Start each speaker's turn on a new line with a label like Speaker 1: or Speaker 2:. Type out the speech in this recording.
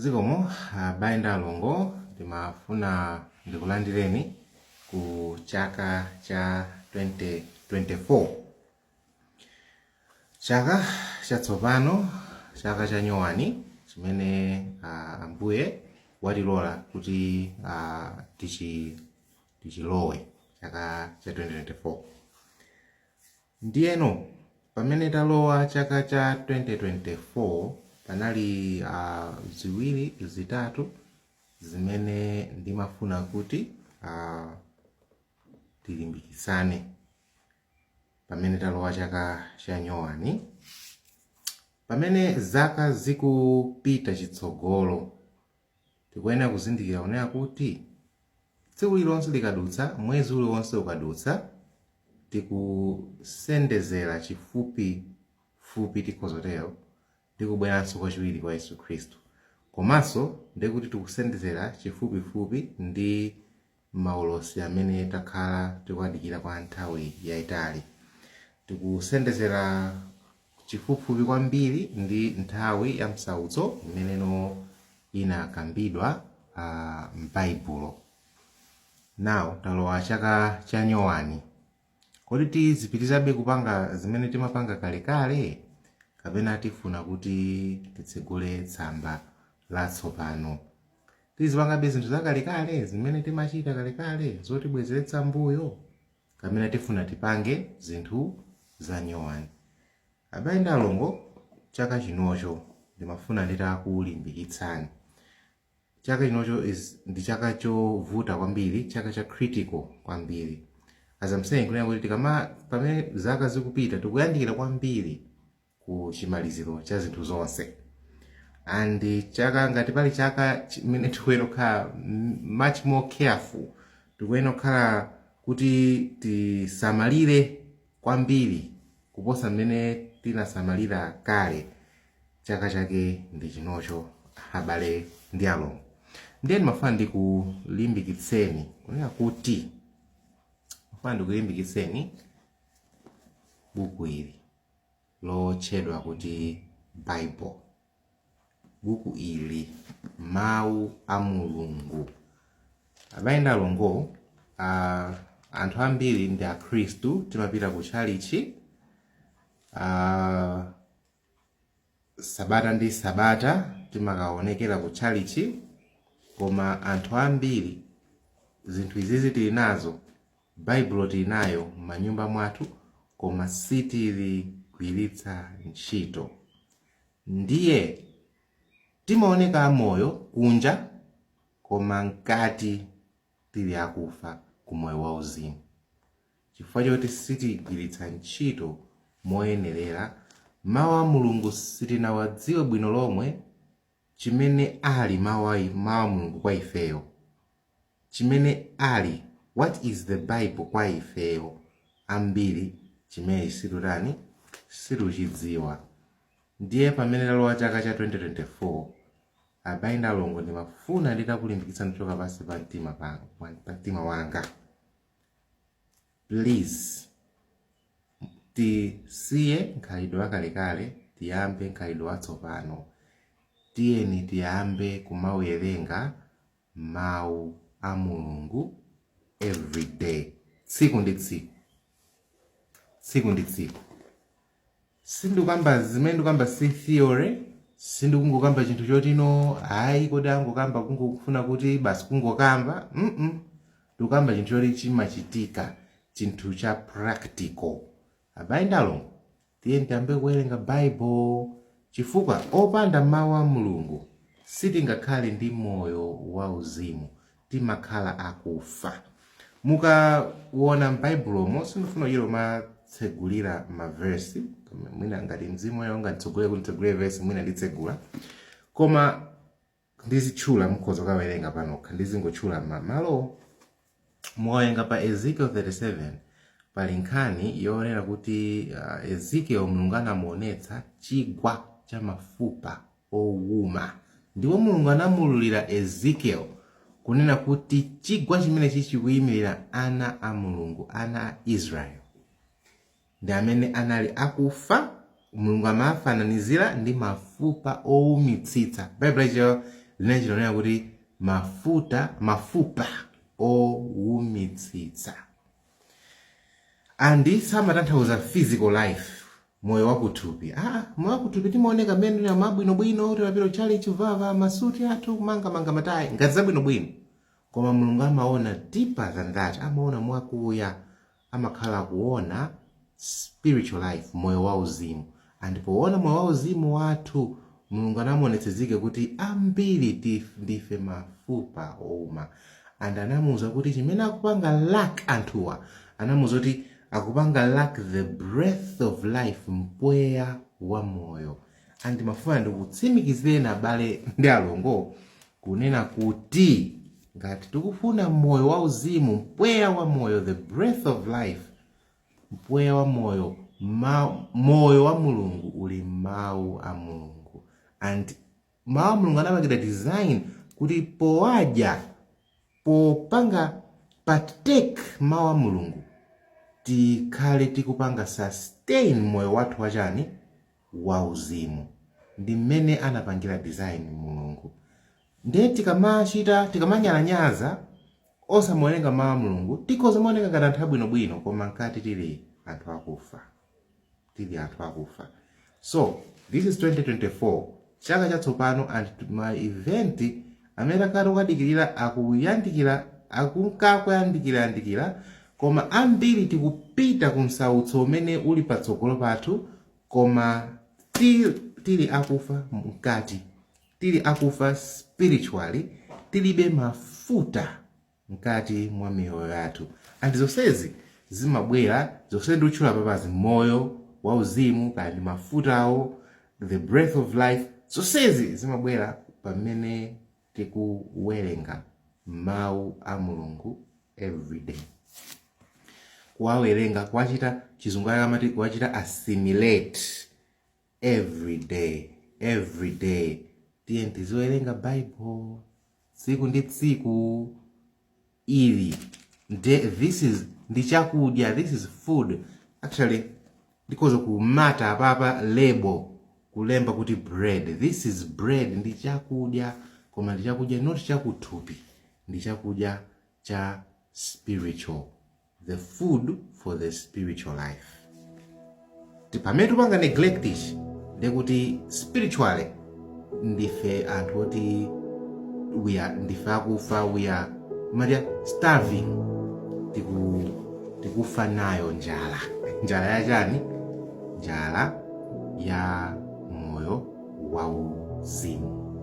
Speaker 1: zikomo abale ndi alongo ndimafuna ndikulandireni ku chaka cha 2024 chaka chatsopano chaka cha nyowani chimene ah, ambuye watilola kuti ah, tichi tichilowe chaka cha 2024 Ndiyeno pamene talowa chaka cha 2024 panali a ziwiri zitatu zimene ndimafuna kuti a tilimbikitsane pamene talowa chaka cha nyowani pamene zaka zikupita chitsogolo Tikuyenera kuzindikira kunena kuti tsiku lililonse likadutsa, mwezi uliwonse ukadutsa, tikusendezera chifupi fupi, tikhoza kutero, ndi kubweranso kwachiwiri kwa Yesu Khristu. Komanso ndekuti tikusendezera chifupi fupi ndi. maulosi amene takhala tikuwadikira kwa nthawi yaitali. Tikusendezera chifupifupi kwambiri ndi nthawi ya msautso imeneno inakambidwa a m'Baibulo. Now talowa chaka cha nyowani. Kodi tizipitirabe kupanga zimene timapanga kalekale, kapena tifuna kuti titsegule tsamba latsopano? Tizipangabe zinthu zakalekale zimene timachita kalekale zotibwezeretsa m'mbuyo, kapena tifuna tipange zinthu zanyowani? Abale ndi alongo, chaka chinocho ndimafuna nditakulimbikitsani chaka chinocho is ndi chaka chovuta kwambiri chaka cha critical kwambiri as I'm saying kunena kuti tikama pamene zaka zikupita tikuyandikira kwambiri ku chimaliziro cha zinthu zonse and chaka ngati pali chaka chimene tikuyenera kukhala m- much more careful tikuyenera kukhala kuti tisamalire kwambiri kuposa mmene tinasamalira kale chaka chake ndi chinocho abale ndi alongo ndiye ndimafuna ndikulimbikitseni kunena kuti ndimafuna ndikulimbikitseni buku ili lotchedwa kuti Bible. Buku ili mau a Mulungu. Abale ndi alongo, a, anthu ambiri ndi akhristu timapita ku tchalitchi a, sabata ndi sabata timakaonekera ku tchalitchi koma anthu ambiri zinthu izizi tili nazo Baibulo tili nayo m'manyumba mwathu koma sitiligwiritsa ntchito. Ndiye timaoneka amoyo kunja koma mkati tili akufa ku moyo wauzimu chifukwa choti sitigwiritsa ntchito moyenerera Mawu a Mulungu, sitinawadziwe bwino lomwe. chimene ali mawu a mawu a mulungu kwa ifeyo chimene ali what is the bible kwa ifeyo ambiri chimene sitikutani sitikuchidziwa ndiye pamene talowa chaka cha 2024 abale ndi alongo ndimafuna nditakulimbikitsani kuchoka pansi pa mtima pa pa mtima wanga Please tisiye nkhalidwe wakalekale tiyambe nkhalidwe watsopano tiyeni tiyambe kumawerenga mawu a Mulungu everyday tsiku ndi tsiku tsiku ndi tsiku sindikukamba zimene ndikukamba si theory sindikungokamba chinthu choti no ayi kodi angokamba kungofuna kuti basi kungokamba mm ndikukamba chinthu choti chimachitika chinthu cha practical abale ndi alongo tiyeni tiyambe kuwerenga baibulo chifukwa opanda mawu a mulungu sitingakhale ndi moyo wauzimu timakhala akufa. Mukaona m'Baibulomo, sindifuna kuchita kumatsegulira ma verse, koma mwina ngati Mzimu Woyera unganditsogolere kuti nditsegulire verse, mwina nditsegula. Koma ndizitchula mukhoza kukawerenga panokha, ndizingotchula ma- malowo. Mukawerenga pa Ezekiel 37 pali nkhani yonena kuti uh, Ezekiel Mulungu anamuonetsa chigwa cha mafupa owuma. Ndipo Mulungu anamuululira Ezekiel, kunena kuti chigwa chimenechi chikuyimirira ana a Mulungu, ana a Israel. Ndi amene anali akufa, Mulungu amawafananizira ndi mafupa owumitsitsa. Baibulo lachiyero linachita kunena kuti mafuta, mafupa owumitsitsa. and samatanthauza physical life moyo wakuthupi ah, moyo wakuthupi timaoneka mmenemu abwinobwino timapita kuchalichi kuvala masuti athu kumangamanga matayi ngati zabwinobwino koma mulungu amaona deeper than that amaona mwakuya amakhala akuona spiritual life, moyo wauzimu. And powona moyo wauzimu wathu, Mulungu anamuonetsezike kuti ambiri ndife mafupa ouma. And anamuuza kuti chimene akupanga lack anthuwa, anamuuza kuti akupanga lack the breath of life, mpweya wa moyo. And mafuna ndikutsimikizireni abale ndi alongo kunena kuti ngati tikufuna moyo wauzimu, mpweya wa moyo, the breath of life, Mpweya wa moyo, moyo wa Mulungu uli m'mawu a Mulungu and mawu a Mulungu anapangidwa design kuti powadya popanga partake mawu a Mulungu tikhale tikupanga sustain moyo wathu wachani wauzimu ndi mmene anapangira design Mulungu Ndiye tikamachita, tikamanyalanyaza osamawerenga mawu a Mulungu, tikhoza kumaoneka ngati anthu abwino bwino koma mkati tili anthu akufa. Tili anthu akufa. So, this is 2024, chaka chatsopano and ma event amene takhala tikuwadikirira akuyandikira, akunka akuyandikira yandikira koma ambiri tikupita ku msautso umene uli patsogolo pathu koma still tili akufa mkati. Tili akufa spiritually, tilibe mafuta mkati mwa miyoyo yathu and zonsezi zimabwera zonse ndikuzitchula apapazi moyo wa uzimu kaya ndi mafutawo the breath of life zonsezi zimabwera pamene tikuwerenga mawu a mulungu everyday kuwawerenga kuwachita chizungu ake amati kuwachita assimilate every day every day tiyeni tiziwerenga bible tsiku ndi tsiku ili nde this is ndi chakudya this is food actually ndikhoza kumata apapa lebo kulemba kuti bread this is bread ndi chakudya koma ndi chakudya not chakuthupi ndi chakudya cha spiritual the food for the spiritual life Ti- pamene tikupanga neglect ichi ndekuti spiritually ndife anthu oti we are ndife akufa we are maria starving tiku tikufa nayo njala njala ya chani njala ya moyo wauzimu